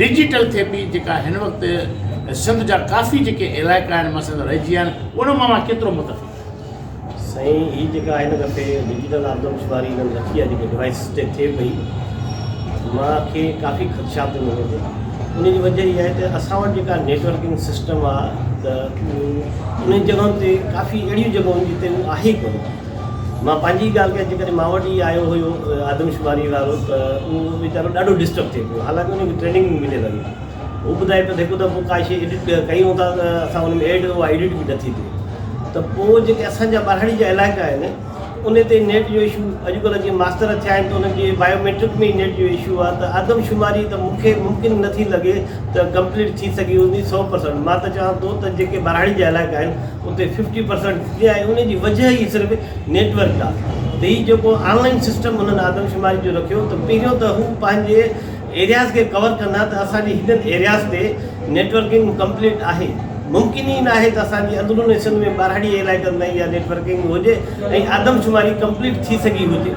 Digital ٿيپي جيڪا هن وقت سنڌ جا ڪافي جيڪي علائقا آهن مثلا رهجي آهن ان مان اها ڪيترو متفق آهي؟ سائين هي جيڪا آهي نه دفعي ڊجيٽل آدمشماري هنن رکي آهي جيڪي ڊوائيس تي ٿئي پئي مان کي ڪافي خدشا پئي مڃي ٿي ان جي وجه اها آهي ته اسان وٽ جيڪا نيٽورڪنگ سسٽم آهي ته انهن جڳهن تي ڪافي اهڙيون جڳهون جتي هو آهي ڪونه مان پنهنجي ئي ڳالهه ڪيان، جيڪڏهن مان وٽ ئي آيو هيو آدمشماري وارو ته اهو ويچارو ڏاڍو ڊسٽرب ٿئي پيو، حالانڪه ان کي ٽريننگ به مليل هئي. هو ٻڌائي پيو ته هڪ دفعو ڪا شيء ايڊٽ ڪيون ٿا ته اسان ان ۾ ايڊ اها ايڊٽ به نٿي ٿئي ته پوء جيڪي اسان جا ٻاراڙي جا علائقا آهن ان تي نيٽ جو اشو اڄڪلهه جيئن ماستر ٿيا آهن ته انهن جي بايو ميٽرڪ ۾ ئي نيٽ جو اشو آهي ته آدمشماري ته مون کي ممڪن نٿي لڳي ته ڪمپليٽ ٿي سگهي هوندي سئو پرسنٽ مان ته چوان ٿو ته جيڪي ٻاراڙي جا علائقا آهن اتي ففٽي پرسنٽ ٿي ويا ۽ ان جي وجهه ئي صرف نيٽ ورڪ آ ته هي جيڪو آن لائين سسٽم انهن آدمشماري جو رکيو ته پهريون ته هو پنهنجي ايرياز کي ڪور ڪندا ته اسان جي هنن ايرياز تي نيٽ ورڪنگ ڪمپليٽ آهي ممڪن ئي ناهي ته اسان جي اندرون سنڌ ۾ ٻاراڙي علائقن تائين اها نيٽ ورڪنگ هجي ۽ آدمشماري ڪمپليٽ ٿي سگهي هجي.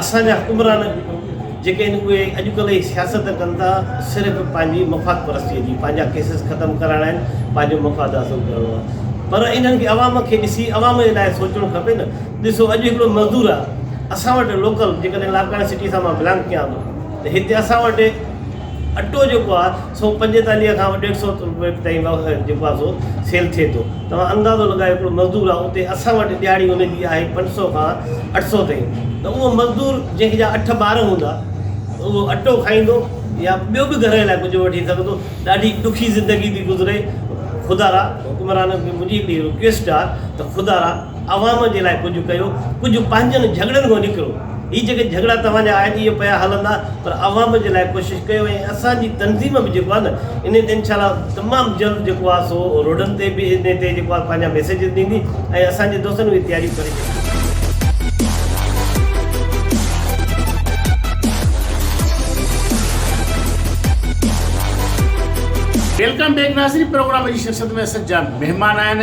اسان جا حڪمران جيڪي آهن اهي اڄڪلهه جي سياست ڪن ٿا صرف پنهنجي مفاد پرستيء جي، پنهنجا ڪيسز ختم ڪرائڻا آهن، پنهنجو مفاد حاصل ڪرڻو آهي پر انهن کي عوام کي ڏسي عوام جي لاء سوچڻو کپي نه، ڏسو اڄ هڪڙو مزدور آهي اسان وٽ لوڪل جيڪڏهن لاڙڪاڻي سٽي سان مان بلانگ ڪيان ٿو ته هتي اسان وٽ اٽو جيڪو آهي سو پنجيتاليهه کان ڏيڍ سو روپئي تائين جيڪو آهي سو سيل ٿئي ٿو توهان اندازو لڳايو هڪڙو مزدور آهي اتي اسان وٽ ڏهاڙي ان جي آهي پنج سو کان اٺ سو تائين ته اهو مزدور جنهن جا اٺ ٻار هوندا اهو اٽو کائيندو يا ٻيو به گهر لاء ڪجهه وٺي سگهندو ڏاڍي ڏکي زندگي ٿي گذري خدارا حڪمرانن کي منهنجي هڪڙي رڪويسٽ آهي ته خدارا عوام جي لاء ڪجهه ڪيو، ڪجهه پنهنجن جهڳڙن کان نڪرو، هي جيڪي جهڳڙا توهان جا آهن اهي پيا هلندا پر عوام جي لاء ڪوشش ڪيو ۽ اسان جي تنظيم به جيڪو آهي نه انهي تي انشاء الله تمام جلد جيڪو آهي سو روڊن تي به انهي تي جيڪو آهي پنهنجا ميسيجز ڏيندي ۽ اسان جي دوستن اهي تياريون ڪري ڇڏيون. ويلڪم بيڪ ناظرين پروگرام جي شرست ۾ سجا مهمان آهن.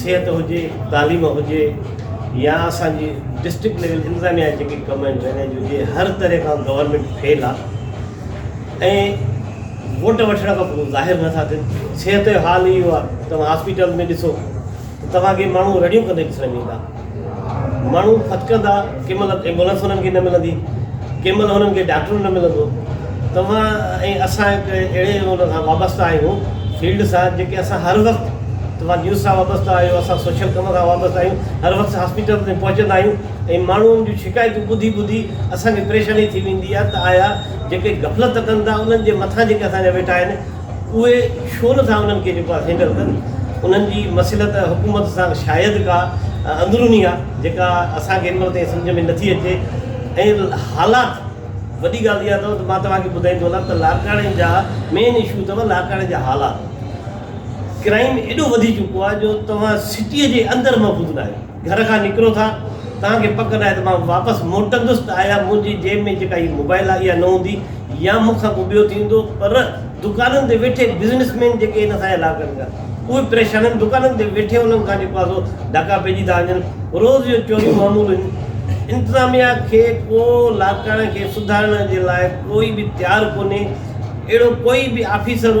صحت هجي، تعليم هجي يا اسان جي ڊسٽرڪٽ ليول انتظاميا جا جيڪي ڪم آهن ڊرينيج هجي هر طرح کان گورنمينٽ فيل آهي ۽ ووٽ وٺڻ کان پوء ظاهر نٿا ٿين صحت جو حال اهو آهي توهان هاسپيٽل ۾ ڏسو ته توهان کي ماڻهو رڙيون ڪندي ڏسڻ ۾ ايندا ماڻهو ڦٿڪندا، ڪنهن مهل ايمبولنس انهن کي نه ملندي، ڪنهن مهل انهن کي ڊاڪٽر نه ملندو. توهان ۽ اسان هڪ اهڙي ان سان وابسته آهيون، فيلڊ سان، جيڪي اسان هر وقت، توهان نيوز سان وابسته آهيو، اسان سوشل ڪم سان وابسته آهيون، هر وقت هاسپيٽل تائين پهچندا آهيون ۽ ماڻهن جون شڪايتون ٻڌي ٻڌي اسان کي پريشاني ٿي ويندي آهي ته آيا جيڪي غفلت ڪن ٿا انهن جي مٿان جيڪي اسان جا ويٺا آهن، اهي ڇو نٿا انهن کي جيڪو آهي سي هينڊل ڪن. انهن جي مصلحت حڪومت سان شايد ڪا اندروني آهي جيڪا اسان کي هن مهل تائين سمجهه ۾ نٿي اچي ۽ حالات وڏي ڳالهه اها اٿو ته مان توهان کي ٻڌائيندو هلان ته لاڙڪاڻي جا مين اشو اٿو لاڙڪاڻي جا حالات ڪرائيم ايڏو وڌي چڪو آهي جو توهان سٽي جي اندر محفوظ ناهيو. گهر کان نڪرو ٿا توهان کي پڪ ناهي ته مان واپس موٽندس ته آيا منهنجي جيب ۾ جيڪا هي موبائل آهي اها نه هوندي يا مون کان ڪو ٻيو ٿيندو پر دڪانن تي ويٺي بزنس مين جيڪي هن سان الاء ڪن ٿا اهي پريشانن دڪانن تي ويٺي انهن کان جيڪو آهي سو ڌڪا پئجي ٿا وڃن روز جو چوريون معمول هن انتظاميا کي ڪو لاڙڪاڻي کي سڌارڻ جي لاء ڪوئي به تيار ڪونهي اهڙو ڪوئي به آفيسر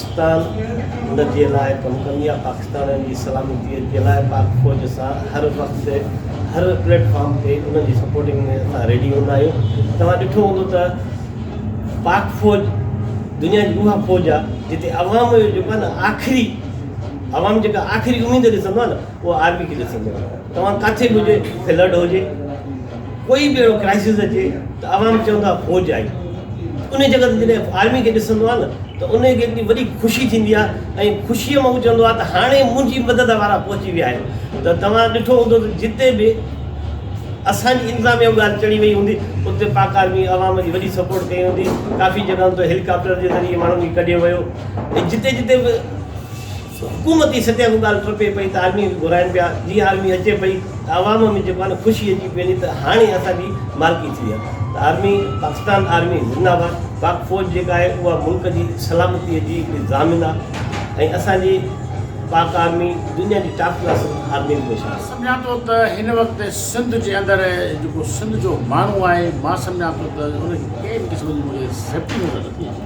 پاڪستان ان جي لاء ڪم ڪندي آهي، پاڪستانين جي سلامتي جي لاء پاڪ فوج سان هر وقت تي هر پليٽ فارم تي انهن جي سپورٽنگ ۾ اسان ريڊي هوندا آهيون، توهان ڏٺو هوندو ته پاڪ فوج دنيا جي اها فوج آهي جتي عوام جو جيڪو آهي نه آخري عوام جيڪا آخري اميد ڏسندو آهي نه اها آرمي کي ڏسندو آهي توهان ڪاٿي به هجي فلڊ هجي ڪوئي به اهڙو ڪرائسز اچي ته عوام چوندو آهي فوج آئي ان جڳهه تي جڏهن آرمي کي ڏسندو آهي نه ته ان کي هڪڙي وڏي خوشي ٿيندي آهي ۽ خوشيء مان هو چوندو آهي ته هاڻي منهنجي مدد وارا پهچي ويا آهن ته توهان ڏٺو هوندو ته جتي به اسان جي انتظاميا اها ڳالهه چڙي وئي هوندي اتي پاڪ آرمي عوام جي وڏي سپورٽ ڪئي هوندي ڪافي جڳهن تي هيليڪاپٽر جي ذريعي ماڻهن کي ڪڍيو ويو ۽ جتي جتي به حڪومتي سطح اها ڳالهه ٽپي پئي ته آرمي کي گهرائن پيا، جي آرمي اچي پئي ته عوام ۾ جيڪو آهي نه خوشي اچي پئي وڃي ته هاڻي اسان جي مالڪي ٿي وئي آهي ته آرمي پاڪستان آرمي زنده باد پاڪ فوج جيڪا آهي اها ملڪ جي سلامتي جي هڪڙي ضامن آهي ۽ اسان جي پاڪ آرمي دنيا جي ٽاپ ڪلاس آرمين ۾ شامل آهي. سمجهان ٿو ته هن وقت سنڌ جي اندر جيڪو سنڌ جو ماڻهو آهي مان سمجهان ٿو ته ان کي ڪنهن به قسم جي مون کي سيفٽي نظر نٿي اچي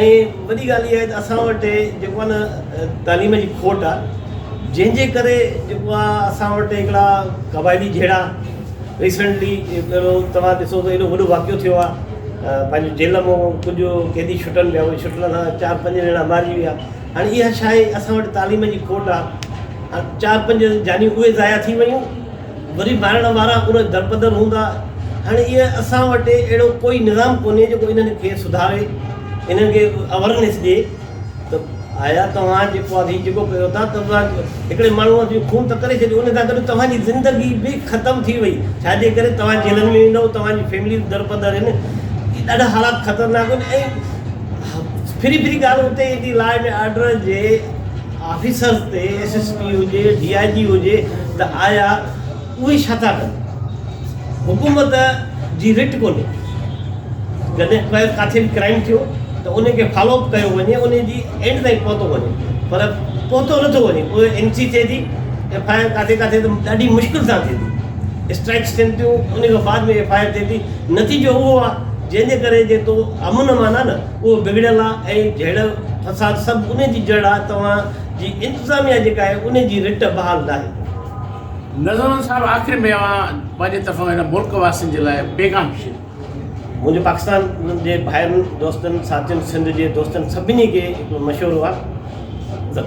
۽ وڏي ڳالهه اها آهي ته اسان وٽ جيڪو آهي نه تعليم جي کوٽ آهي جنهن جي ڪري جيڪو آهي اسان وٽ هڪڙا قبائلي جهيڙا ريسينٽلي پهريون توهان ڏسو ته ايڏو وڏو واقعو ٿيو آهي پنهنجو جيل مئو ڪجهه قيدي ڇٽن پيا وئي ڇٽن سان چار پنج ڄڻا مارجي ويا هاڻي اها ڇا آهي اسان وٽ تعليم جي کوٽ آهي چار پنج جانيون اهي ضايع ٿي ويون وري مارڻ وارا اهي درپدر هوندا. هاڻي اهي اسان وٽ اهڙو ڪوئي نظام ڪونهي جيڪو انهن کي سڌاري، انهن کي اوورنيس ڏئي ته آيا توهان جيڪو هي جيڪو ڪيو ٿا ته توهان هڪڙي ماڻهو جو خون ته ڪري ڇڏيو، ان سان گڏ توهان جي زندگي به ختم ٿي وئي، ڇا جي ڪري توهان جيلن ۾ ويندؤ، توهان جي فيمليز درپدر هين، اهي ڏاڍا حالات خطرناڪ هن ۽ ڦري ڦري ڳالهه اتي ايندي لا اينڊ آرڊر جي. آفيسرز تي ايس ايس پي هجي ڊي آء جي هجي ته آيا اهي ڇا ٿا ڪن حڪومت جي رٽ ڪونهي جڏهن ڪو ڪاٿي به ڪرائيم ٿيو ته ان کي فالو اپ ڪيو وڃي ان جي اينڊ تائين پهتو وڃي پر پهتو نٿو وڃي پوء اين سي ٿئي ٿي ايف آء آر ڪاٿي ڪاٿي ته ڏاڍي مشڪل سان ٿئي ٿي اسٽرائڪس ٿين ٿيون ان کان بعد ۾ ايف آء آر ٿئي ٿي نتيجو اهو آ جنهن جي ڪري جي تو امن امان آ نه اهو بگڙيل آ ۽ جهيڙ فساد سڀ انهي جي جڙ آ توهان جي انتظاميا جيڪا آهي انهي جي رٽ بحال ناهي. نذران صاحب آخر ۾ اوهان پنهنجي طرفان هن ملڪ واسين جي لاء پيغام شيئر ڪيو. منهنجو پاڪستان جي ڀائرن دوستن ساٿين سنڌ جي دوستن سڀني کي هڪڙو مشورو آ.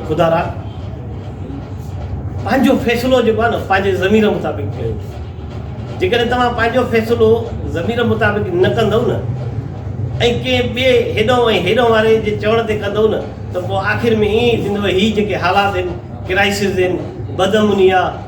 خدا را پنهنجو فيصلو جيڪو آهي نه پنهنجي ضمير مطابق ڪيو جيڪڏهن توهان پنهنجو فيصلو ضمير مطابق نه ڪندو نه ۽ ڪنهن ٻئي هيڏو ۽ هيڏو واري جي چوڻ تي ڪندو نه ته پوء آخر ۾ ائين ئي ٿيندو هي جيڪي حالات آهن ڪرائسز آهن بدامني آهي